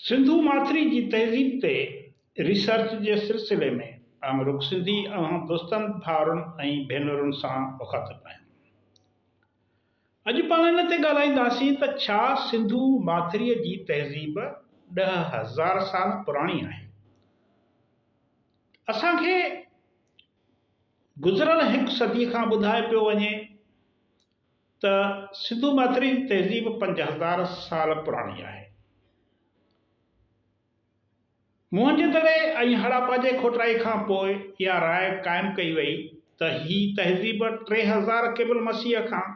سنڌو ماٿري جي تهذيب تي ريسرچ جي سلسلي ۾ آئون رڳو سنڌي اوهان دوستن، ڀائرن ۽ ڀينرن سان مخاطب آهيان. اڄ پاڻ ان تي ڳالهائينداسين ته ڇا سنڌو ماٿري جي تهذيب ڏهه هزار سال پراڻي آهي؟ اسان کي گذريل هڪ صدي کان ٻڌائي پيو وڃي ته سنڌو ماٿرين تهذيب پنج هزار سال پراڻي آهي. موهنجو دڙي ۽ هڙاپا جي کوٽرائي کان پوء اها راء قائم ڪئي وئي ته هي تهذيب ٽي هزار قبل مسيح کان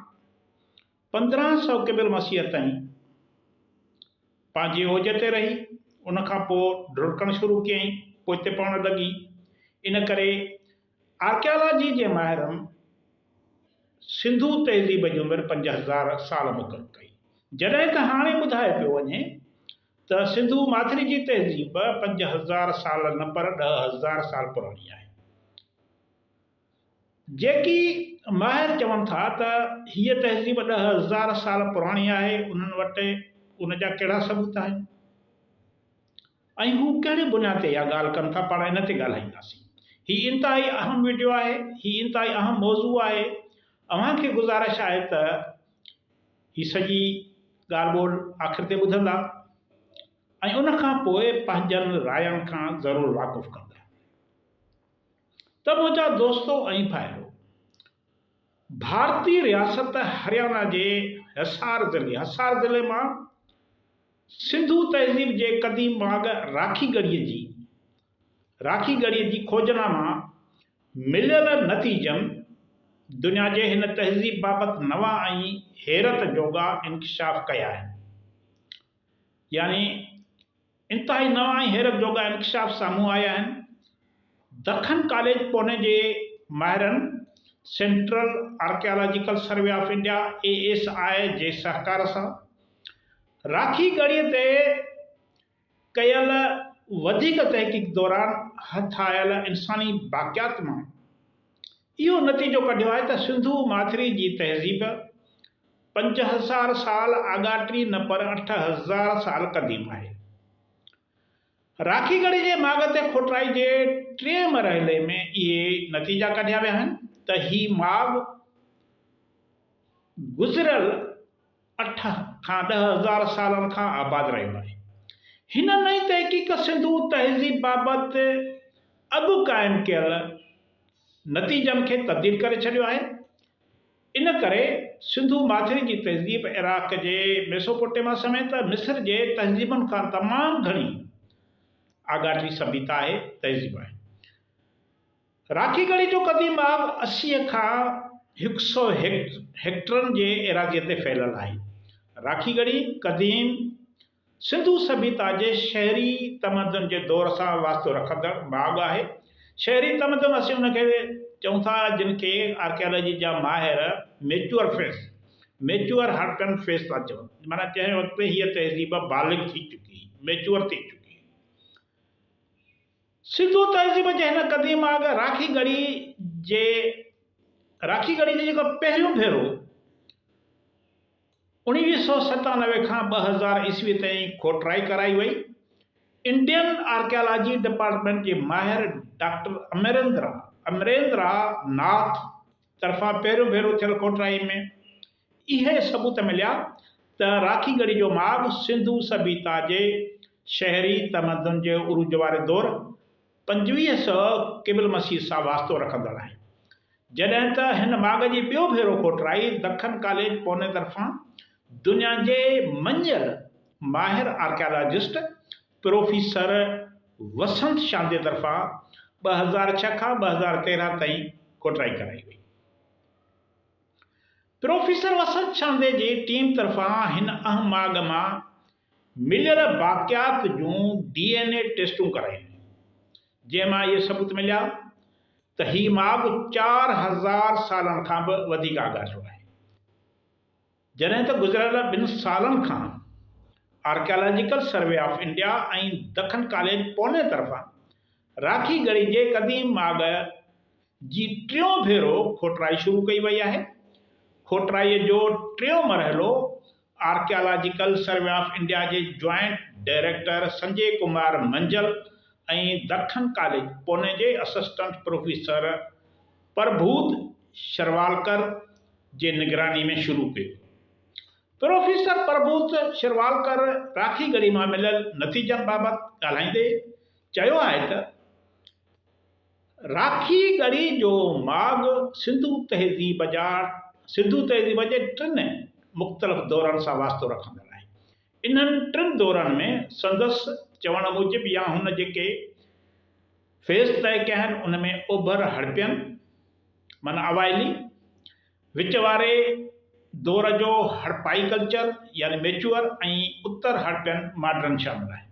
پندرهن سؤ قبل مسيح تائين پنهنجي اوج تي رهي، ان کان پوء ڍرڪڻ شروع ڪيائين، پوئتي پوڻ لڳي، ان ڪري آرڪيالاجي جي ماهرن سنڌو تهذيب جي عمر پنج هزار سال مقرر ڪئي، جڏهن ته هاڻي ٻڌايو پيو وڃي ته سنڌو ماٿري جي تهذيب پنج هزار سال نه پر ڏهه هزار سال پراڻي آهي. جيڪي ماهر چون ٿا ته هيء تهذيب ڏهه هزار سال پراڻي آهي، انهن وٽ ان جا ڪهڙا ثبوت آهن؟ ۽ هو ڪهڙي بنياد تي اها ڳالهه ڪن ٿا پاڻ ان تي ڳالهائينداسين. هي انتهائي اهم وڊيو آهي، هي انتهائي اهم موضوع آهي، اوهان کي گذارش آهي ته هي سڄي ڳالهه ٻولهه آخر تي ٻڌندا ۽ ان کان پوء پنهنجن راين کان ضرور واقف ڪندا. ته منهنجا دوستو ۽ ڀائرو! ڀارتي رياست هريانا جي حصار ضلعي، حصار ضلعي مان سنڌو تهذيب جي قديم ڀاڳ راکي ڳڙهي جي راکي ڳڙهي جي کوجنا مان مليل نتيجن دنيا جي هن تهذيب بابت نوان ۽ حيرت جوڳا انڪشاف ڪيا آهن. يعني انتهائي نوان ۽ حيرت جوڳا انڪشاف سامهون آيا آهن. دکن ڪاليج پوني جي ماهرن central archaeological survey of India, A S I, جي سهڪار سان راکي ڳڙهي تي ڪيل وڌيڪ تحقيق دوران هٿ آيل انساني باقيات مان اهو نتيجو ڪڍيو آهي ته سنڌو ماٿري جي تهذيب پنج هزار سال آڳاٽي نه پر اٺ هزار سال قديم آهي. راکي گڙهه جي ماڳ تي کوٽرائي جي ٽئين مرحلي ۾ اهي نتيجا ڪڍيا ويا آهن ته هي ماڳ گذريل اٺ کان ڏهه هزار سالن کان آباد رهيو آهي. هن نئين تحقيق سنڌو تهذيب بابت اڳ قائم ڪيل نتيجن کي تبديل ڪري ڇڏيو آهي. ان ڪري سنڌو ماٿري جي تهذيب عراق جي ميسوپوٽيما سميت مصر جي تهذيبن کان تمام گهڻي آڳاٽي سڀيتا آهي، تهذيب آهي. راکي ڳڙهي جو قديم آب اسي کان هڪ سئو هيڪٽرن جي ايراضيء تي ڦهليل آهي. راکي ڳڙهي قديم. سنڌو سڀيتا جي شهري تمدن جي دور سان واسطو رکندڙ ماڳ آهي. شهري تمدن اسين ان کي چئون ٿا جن کي آرڪيالاجي جا ماهر ميچوئر فيس، Mature Hurton Phase، ٿا چون، معنيٰ جنهن وقت تي هيء تهذيب بالغ ٿي چڪي، Mature، ٿي چڪي. سنڌو تهذيب جي هن قديم ماڳ راکي ڳڙهي جي راکي ڳڙهي جي جيڪو پهريون ڀيرو، اڻويهه سؤ ستانوي کان ٻه هزار عيسوي تائين کوٽرائي ڪرائي وئي. انڊين آرڪيالاجي ڊپارٽمينٽ جي ماهر ڊاڪٽر امريندرا، Amarendra Nath، طرفان پهريون ڀيرو ٿيل کوٽرائي ۾ اهي ثبوت مليا ته راکي ڳڙهي جو ماڳ سنڌو سڀيتا جي شهري تمدن جي عروج واري دور، پنجويهه سؤ قبل مسيح سان واسطو رکندڙ آهن. جڏهن ته هن ماڳ جي ٻيو ڀيرو کوٽرائي دکن ڪاليج پوني طرفان دنيا جي مڃيل ماهر آرڪيالاجسٽ پروفيسر وسنت شاندي طرفان ٻه هزار ڇهه کان ٻه هزار تيرهن تائين کوٽرائي ڪرائي وئي. پروفيسر وسنت شاندي جي ٽيم طرفان هن اهم ماڳ مان مليل باقيات جون ڊي اين اي ٽيسٽون ڪرايون جنهن مان اهي ثبوت مليا ته هي ماڳ چار هزار سالن کان به وڌيڪ آڳاٽو آهي جڏهن ته گذريل ٻن سالن کان archaeological survey of India ۽ Deccan college Pune طرفان راکي ڳڙهي جي قديم ماڳ جي ٽيون ڀيرو کوٽرائي شروع ڪئي وئي آهي. کوٽرائي جو ٽيون مرحلو آرڪيالاجيڪل سروي آف انڊيا جي joint director Sanjay Kumar Manjul ۽ Deccan college Pune جي اسسٽنٽ پروفيسر پرڀوت شروالڪر جي نگراني ۾ شروع ڪيو. پروفيسر پرڀوت شروالڪر راکي گڙهي مان مليل نتيجن بابت ڳالهائيندي چيو آهي ته، راکي ڳڙهي جو ماڳ سنڌو تهذيب جا سنڌو تهذيب جي ٽن مختلف دورن سان واسطو رکندڙ آهي. انهن ٽن دورن ۾ سندس چوڻ موجب يا هن جيڪي فيز طئي ڪيا آهن ان ۾ اوڀر هڙپين معنيٰ اوائلي، وچ واري دور جو هڙپائي ڪلچر يعني ميچوئر ۽ اتر هڙپين ماڊرن شامل آهن.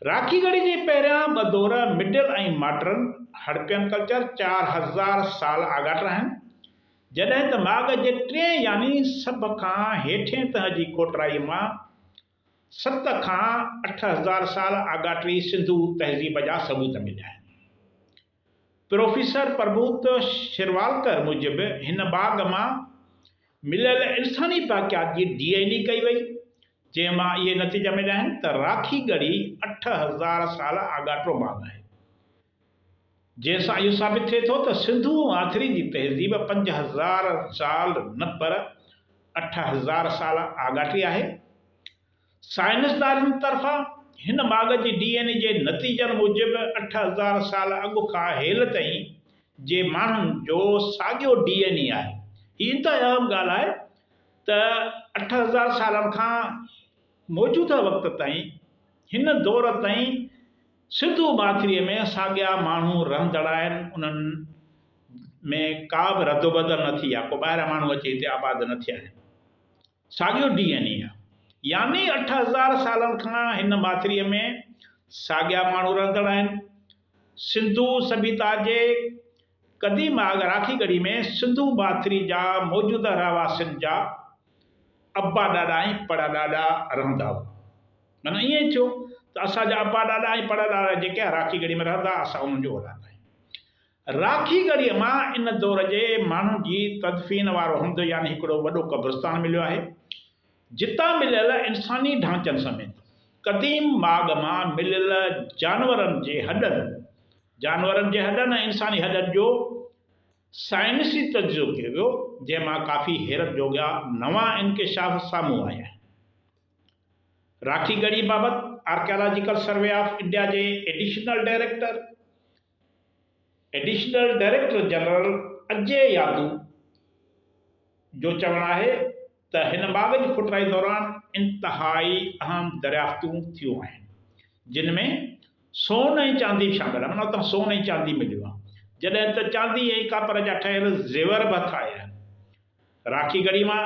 راکي گڙهه جي پهريان ٻه دور، مڊل ۽ ماڊرن، هڙپين ڪلچر، چار هزار سال آڳاٽ آهن، جڏهن ته ماڳ جي ٽئين يعني سڀ کان هيٺين تهه جي کوٽرائي مان ست کان اٺ هزار سال آڳاٽي سنڌو تهذيب جا ثبوت مليا آهن. پروفيسر پربوت شرواڙڪر موجب هن باغ مان مليل انساني باقيات جي ڊي اين اي ڪئي وئي، جنهن مان اهي نتيجا مليا آهن ته راکي ڳڙهي اٺ هزار سال آڳاٽو باغ آهي، جنهن سان اهو ثابت ٿئي ٿو ته سنڌو ۽ آٿري جي تهذيب پنج هزار سال نه پر اٺ هزار سال آڳاٽي آهي. سائنسدانن طرفان هن ماڳ جي ڊي اين اي جي نتيجن موجب اٺ هزار سال اڳ کان هيل تائين جي ماڻهن جو ساڳيو ڊي اين اي آهي. هي انتهائي اهم ڳالهه آهي ته اٺ هزار سالن کان موجوده وقت تائين هن دور تائين سنڌو ماٿري ۾ ساڳيا ماڻهو رهندڙ آهن انهن ۾ ڪا به ردوبدل نه ٿي يا ڪو ٻاهريان ماڻهو اچي هتي آباد نه ٿيا آهن. ساڳيو ڊي اين اي آهي. يعني اٺ هزار سالن کان هن ماٿريء ۾ ساڳيا ماڻهو رهندڙ آهن. سنڌو سڀيتا جي قديم آڳ راکي ڳڙهي ۾ سنڌو ماٿري جا موجوده رهواسين جا ابا ڏاڏا ۽ پڙ ڏاڏا رهندا هئا. معنيٰ ائين ئي ٿيو ته اسان جا ابا ڏاڏا ۽ پڙ ڏاڏا جيڪي راکي ڳڙهي ۾ رهندا، اسان انهن جو اولاد آهيون. راکي ڳڙهيء مان ان دور جي ماڻهن جي تدفين وارو هنڌ يعني هڪڙو وڏو قبرستان مليو آهي، جتان مليل انساني ڍانچن سميت قديم ماڳ مان مليل جانورن جي هڏن، جانورن جي هڏن ۽ انساني هڏن جو سائنسي تجزيو ڪيو ويو، جنهن مان ڪافي حيرت جوڳا نوان انڪشاف سامهون آيا آهن. راکي ڳڙهي بابت آرڪيالاجيڪل سروي آف انڊيا جي additional director, additional director general Ajay Yadav جو چوڻ آهي ته هن باغ جي کوٽرائي دوران انتهائي اهم دريافتون ٿيون آهن جن ۾ سون ۽ چاندي به شامل آهن اتان سون ۽ چاندي مليو آهي جڏهن ته چاندي ۽ ڪاپر جا ٺهيل زيور به هٿ آيا آهن راکي گڙهي مان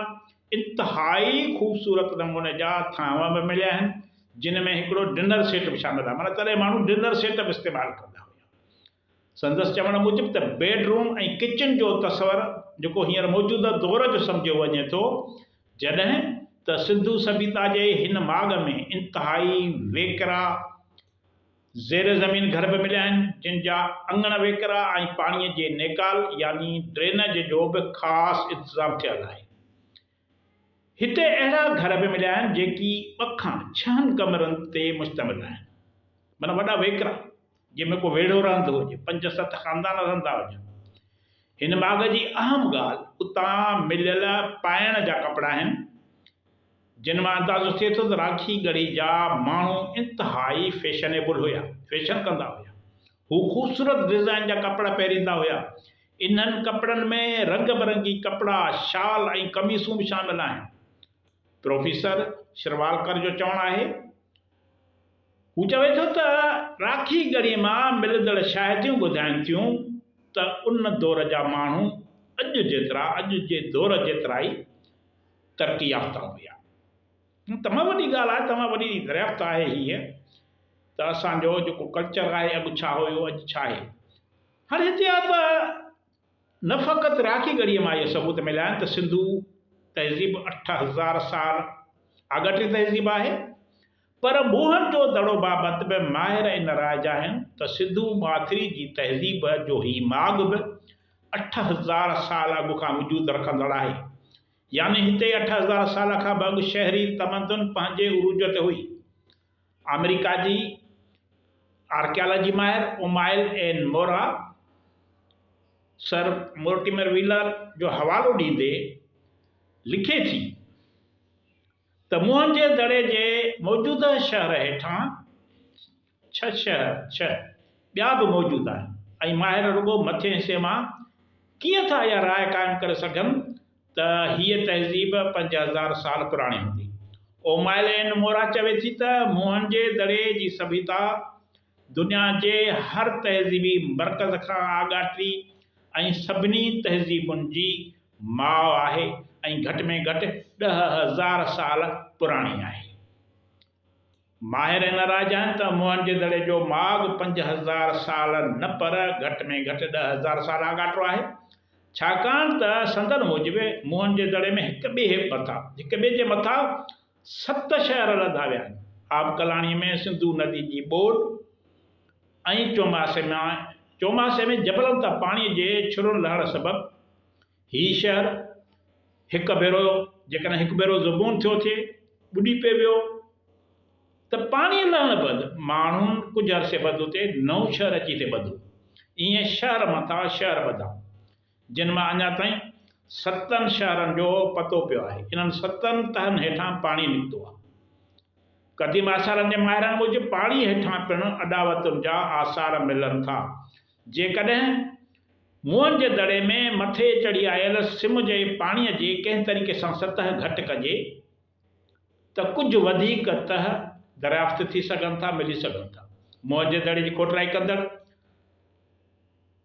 انتهائي خوبصورت نموني جا ٿانو به مليا آهن، جن ۾ هڪڙو ڊنر سيٽ به شامل آهي، معنيٰ تڏهن ماڻهو ڊنر سيٽ به استعمال ڪندا هيا. سندس چوڻ موجب ته بيڊ روم ۽ ڪچن جو تصور جيڪو هينئر موجوده دور جو سمجهيو وڃي ٿو، جڏهن ته سنڌو سڀيتا جي هن ماڳ ۾ انتهائي ويڪرا، زير زمين گهر به مليا آهن، جن جا اڱڻ ويڪرا ۽ پاڻيء جي نيڪال يعني ڊرينج جو به خاص انتظام ٿيل آهي. هتي اهڙا گهر به مليا آهن، جيڪي ٻه کان ڇهن ڪمرن تي مشتمل آهن. معنيٰ وڏا ويڪرا، جن ۾ ڪو ويڙهو رهندو هجي، پنج ست خاندان رهندا هجن. هن ماڳ جي اهم ڳالهه اتان مليل پائڻ جا ڪپڙا آهن. جن مان اندازو ٿئي ٿو ته راکي ڳڙهي جا ماڻهو انتهائي فيشنيبل هيا، فيشن ڪندا هيا. هو خوبصورت ڊزائين جا ڪپڙا پهريندا هيا. انهن ڪپڙن ۾ رنگ برنگي ڪپڙا، شال ۽ قميصون به شامل آهن. پروفيسر شروالڪر جو چوڻ آهي. هو چوي ٿو ته راکي ڳڙهي مان ملندڙ شاهديون ٻڌائين ٿيون ته ان دور جا ماڻهو اڄ جيترا، اڄ جي دور جيترا ئي، ترقي يافته هوندي آهي. تمام وڏي ڳالهه آهي تمام وڏي دريافت آهي هيء ته اسان جو جيڪو ڪلچر آهي اڳ ڇا هيو اڄ ڇا آهي. هاڻي هتي آ ته نه فقط راکي ڳڙهيء مان اهي ثبوت مليا آهن ته سنڌو تهذيب اٺ هزار سال آڳاٽي تهذيب آهي پر موهن جو دڙو بابت به ماهر ان راء جا آهن ته سنڌو ماٿري جي تهذيب جو هي ماڳ به اٺ هزار سال اڳ کان وجود رکندڙ آهي. يعني هتي اٺ هزار سال کان به اڳ شهري تمدن پنهنجي عروج تي هئي. آمريڪا جي آرڪيالاجي ماهر امائيل اين مورا سر مورٽيمر ويلر جو حوالو ڏيندي لکي ٿي ته موهن جي دڙي جي موجوده شهر هيٺان ڇهه شهر، ڇهه ٻيا به موجود آهن ۽ ماهر رڳو مٿين حصي مان ڪيئن ٿا اها راء قائم ڪري سگهن ته هيء تهذيب پنج هزار سال پراڻي هوندي. اومائل اينڊ مورا چوي ٿي ته موهن جي دڙي جي سڀيتا دنيا جي هر تهذيبي مرڪز کان آڳاٽي ۽ سڀني تهذيبن جي ماء آهي ۽ گهٽ ۾ گهٽ ڏهه هزار سال پراڻي آهي. ماهر ان راء جا آهن ته موهن جي دڙي جو ماڳ پنج هزار سال نه پر گهٽ ۾ گهٽ ڏهه هزار سال آڳاٽو آهي، ڇاڪاڻ ته سندن موجب موهن جي دڙي ۾ هڪ ٻئي مٿان هڪ ٻئي جي مٿان ست شهر لڌا ويا آهن. آبڪلاڻي ۾ سنڌو ندي جي ٻوڏ ۽ چوماسي ۾ چوماسي ۾ جبلن تان پاڻي جي ڇرن لهڻ سبب هي شهر هڪ ڀيرو جيڪڏهن هڪ ڀيرو زبون ٿيو ٿئي، ٻڏي پئي ويو ته پاڻي لهڻ بعد ماڻهن ڪجهه عرصي بعد اتي نئون شهر اچي ٿئي ٻڌو. ائين شهر مٿان شهر ٻڌا جن مان اڃا تائين ستن شهرن جو پتو پيو آهي. انهن ستن تهن هيٺان پاڻي نڪتو آهي. قديم آثارن جي ماهرن موجب پاڻي هيٺان پڻ اڏاوتن جا آثار ملن ٿا. جيڪڏهن موئن جي دڙي ۾ مٿي چڙهي آيل سم جي پاڻي جي ڪنهن طريقي سان سطح گهٽ ڪجي ته ڪجهه وڌيڪ تهه دريافت ٿي سگهن ٿا ملي سگهن ٿا. موئن جي دڙي جي کوٽرائي ڪندڙ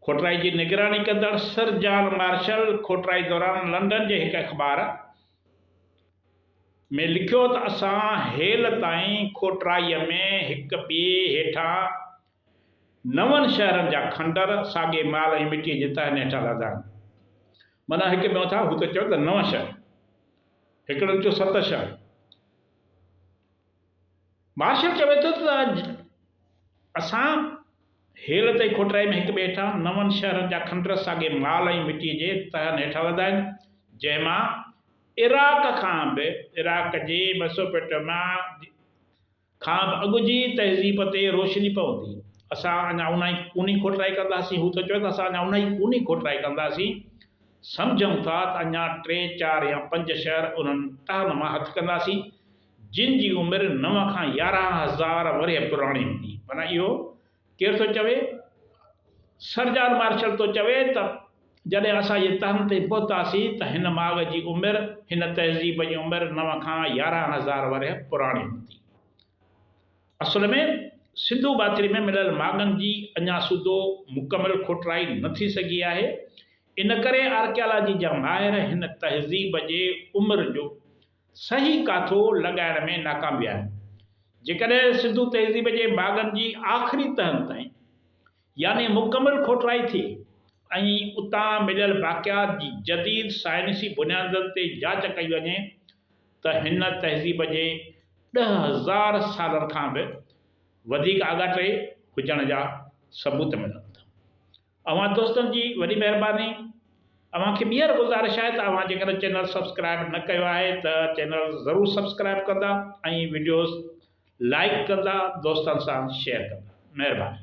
کوٽرائي جي نگراني ڪندڙ سر جان مارشل کوٽرائي دوران لنڊن جي هڪ اخبار ۾ لکيو ته اسان هيل تائين کوٽرائي ۾ هڪ ٻئي هيٺان نون شهرن جا کنڊر ساڳي مال ۽ مٽيء جي تهن هيٺان لڌا آهن. معنيٰ هڪ ٻيو اٿا هو ته چئو ته نون شهر. هڪڙن چيو ست شهر. مارشل چوي ٿو ته اڄ اسان هيل تي کوٽرائي ۾ هڪ ٻئي هيٺان نون شهرن جا کنڊر ساڳي مال ۽ مٽيء جي تهن هيٺان لڌا آهن، جنهن مان عراق کان به عراق جي ميسوپيٽوميا جي کان به اڳ جي تهذيب تي روشني پوندي. اسان اڃا اونهائي ڪونهي کوٽرائي ڪنداسين، هو ته چوي ٿو اسان اڃا اونهائي ڪونهي کوٽرائي ڪنداسين، سمجهون ٿا ته اڃا ٽي چار يا پنج شهر انهن ٽهن مان هٿ ڪنداسين، جن جي عمر نو کان يارهن هزار ورهيه پراڻي هوندي، معنيٰ اهو. ڪير ٿو چوي؟ سر جان مارشل ٿو چوي ته جڏهن اسان جي تهن تي پهتاسين ته هن ماڳ جي عمر، هن تهذيب جي عمر نو کان يارهن هزار ورهيه پراڻي هوندي. اصل ۾ سنڌو ٻاٿري ۾ مليل ماڳن جي اڃا سوڌو مڪمل کوٽرائي نه ٿي سگهي آهي، ان ڪري آرڪيالاجي جا ماهر هن تهذيب جي عمر جو صحيح ڪاٿو لڳائڻ ۾ ناڪام ويا آهن. جيڪڏهن سنڌو تهذيب جي باغن جي آخري تهن تائين يعني مڪمل کوٽرائي ٿئي ۽ اتان مليل باقيات جي جديد سائنسي بنيادن تي جاچ ڪئي وڃي ته هن تهذيب جي ڏهه هزار سالن کان به وڌيڪ آڳاٽي هجڻ جا ثبوت ملندا. اوهان دوستن جي وڏي مهرباني. اوهان کي ٻيهر گذارش آهي ته اوهان جيڪڏهن چينل سبسڪرائب نه ڪيو آهي ته چينل ضرور سبسڪرائب ڪندا ۽ وڊيوز لائيڪ ڪندا دوستن سان شيئر ڪندا مهرباني.